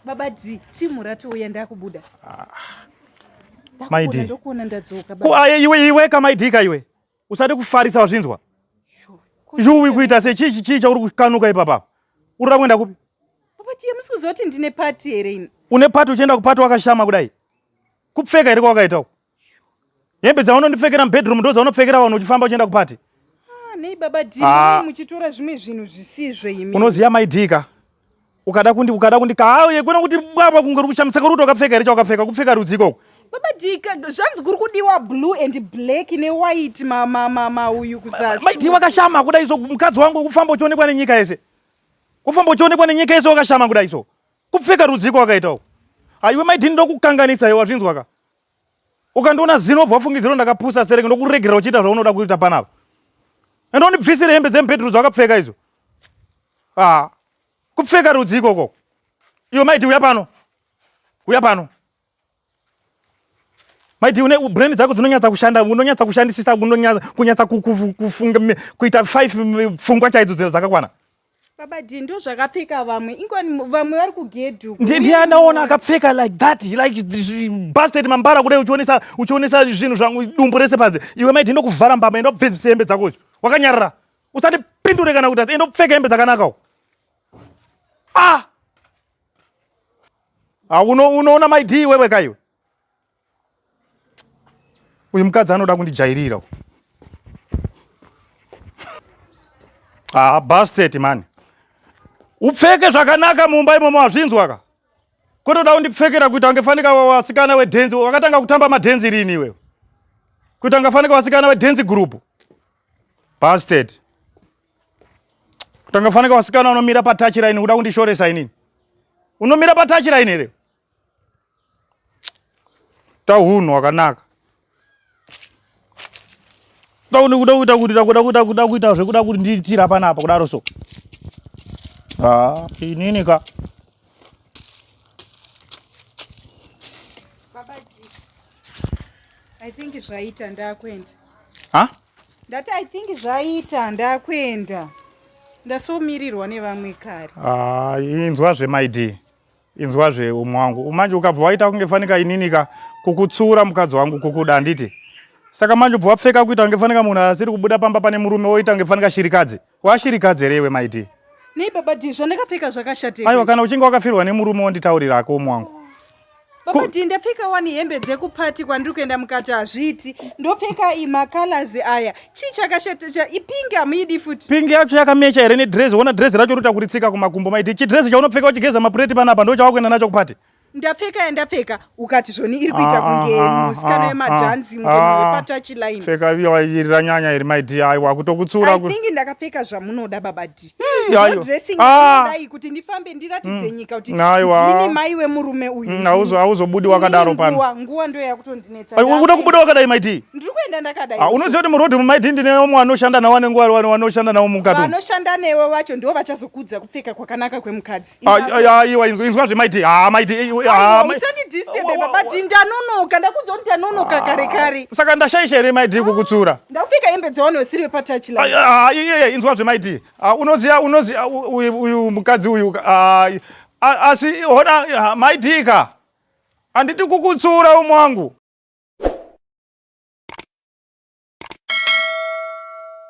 baba d timu ratouya ndakubuda ah. ndokuona ndadzoka aye iwe iwe kamaidika iwe usati kufarisa wazvinzwa zhuwi kuita se chii chii chauri kukanuka ipapa urira kuenda kupi baba tiye musi kuzoti ndine pati here ini une pati uchienda kupati wakashama kudai kupfeka here kwawakaita uku hembe dzaunondipfekera mubedroom ndo dzaunopfekera vanhu uchifamba uchienda kupati ah, nei baba d ah. muchitora zvimwe zvinhu zvisizvo imi unoziva maidika ukada kundi ukada kundi kauye kuna kuti bwabwa kunge uri kushamisa kuri kuti wakapfeka here chawakapfeka kupfeka rudzi ikoko baba dika zvanzi kuri kudiwa blue and black newhite mamamamauyu kuzasi maidi wakashama kuda izo mukadzi wangu kufamba uchionekwa nenyika yese kufamba uchionekwa nenyika yese wakashama kuda izo Kupfeka rudziko wakaita uku. Haiwe mai Dini ndokukanganisa iwe wazvinzwa ka. Ukandiona zino obva wafungidzira ndakapusa sereke ndokuregerera uchiita zvaunoda kuita panapa. Enda undibvisire hembe dzemubhedhuru dzawakapfeka idzo. Ah. Kupfeka rudziko koko. Iwe mai Dini uya pano. Uya pano. Maiti une brain dzako dzinonyatsa kushanda, unonyatsa kushandisisa, unonyatsa kunyatsa kufunga kuita five pfungwa chaidzo dzino dzakakwana. Baba D ndo zvakapfeka vamwe. Ingoni vamwe vari kugedhu. Ndiye anaona akapfeka like that, like busted mambara kudai uchionesa uchionesa zvinhu zvangu dumbu rese panze. Iwe maiti ndo kuvhara mbama enda kupfeka hembe dzako. Wakanyarara. Usati pindure kana kuti enda kupfeka hembe dzakanaka. Ah! Ah, unoona mai dii wewe ka iwe uyu mukadzi anoda kundijairira ah, bastet mani upfeke zvakanaka mumba imomo hazvinzwa ka kotoda kundipfekera kuita kunge fanika wasikana wedhenzi wakatanga kutamba madhenzi rini iwewe kuita kunge fanika wasikana wedhenzi gurupu bastet Kutanga faneka wasikana unomira pa touch line kuda kundishoresa inini. Unomira pa touch line here? Ta hunhu wakanaka. Ta kuda kuda kuita kuda kuda kuda kuda kuita zvekuda kuti nditira panapa kudaro so. Ah, inini ka. I think zvaita ndakwenda. Ha? Ndati I think zvaita ndakwenda. Ndasomirirwa nevamwe kare. Ah, inzwa zve my dear. Inzwa zve umwe wangu. Umanje ukabva waita kunge fanika ininika kukutsura mukadzi wangu kukuda anditi. Saka manje ubva wapfeka kuita kunge fanika munhu asiri kubuda pamba pane murume woita kunge fanika shirikadzi. Washirikadzi here iwe mai Dee? Nei baba Dee zvandakapfeka zvakashatei? Aiwa kana uchinge wakafirwa nemurume wonditaurira hako umu wangu. Baba Dee ndapfeka wani hembe dzekupati kwandiri kuenda mukati hazviiti. Ndopfeka ima colors aya. Chii chakashata ipingi hamuidi futi. Pingi yacho yakamecha here nedress? Wona dress racho rota kuritsika kumakumbo mai Dee. Chidress chaunopfeka uchigeza mapureti panapa ndochawakuenda nacho kupati. ndapfeka yandapfeka ukati zvoni iri kuita ah, kunge ah, ah, musikana yemadhanzi muyepatachi line pfeka iri ranyanya iri my dear aiwa kutokutsura think ndakapfeka zvamunoda baba d dressingdai kuti ndifambe ndiratidze mm. nyika kuti ndini mai wemurume uyu mm, hauzobudi wakadaro pano nguva ndo yakutondinetsakuda kubuda wakadai my d ndiri kuenda ndakadai unoziva kuti muroad my d ndine vamwe vanoshanda navo vanenge vari vanoshanda navo mukati vanoshanda newe vacho ndivo vachazokudza kupfeka kwakanaka kwemukadzi aiwa inzwa inzwa zvemaiti ha maiti usandidisturbe baba ti ndanonoka ndakudza kuti ndanonoka kare kare saka ndashaisha here maiti kukutsura ndakupfeka hembe dzaone usiri wepatachi laiye inzwa zvemaiti unoziva unoziva uyu mukadzi uyu asi hona maitika handiti kukutsura umwe wangu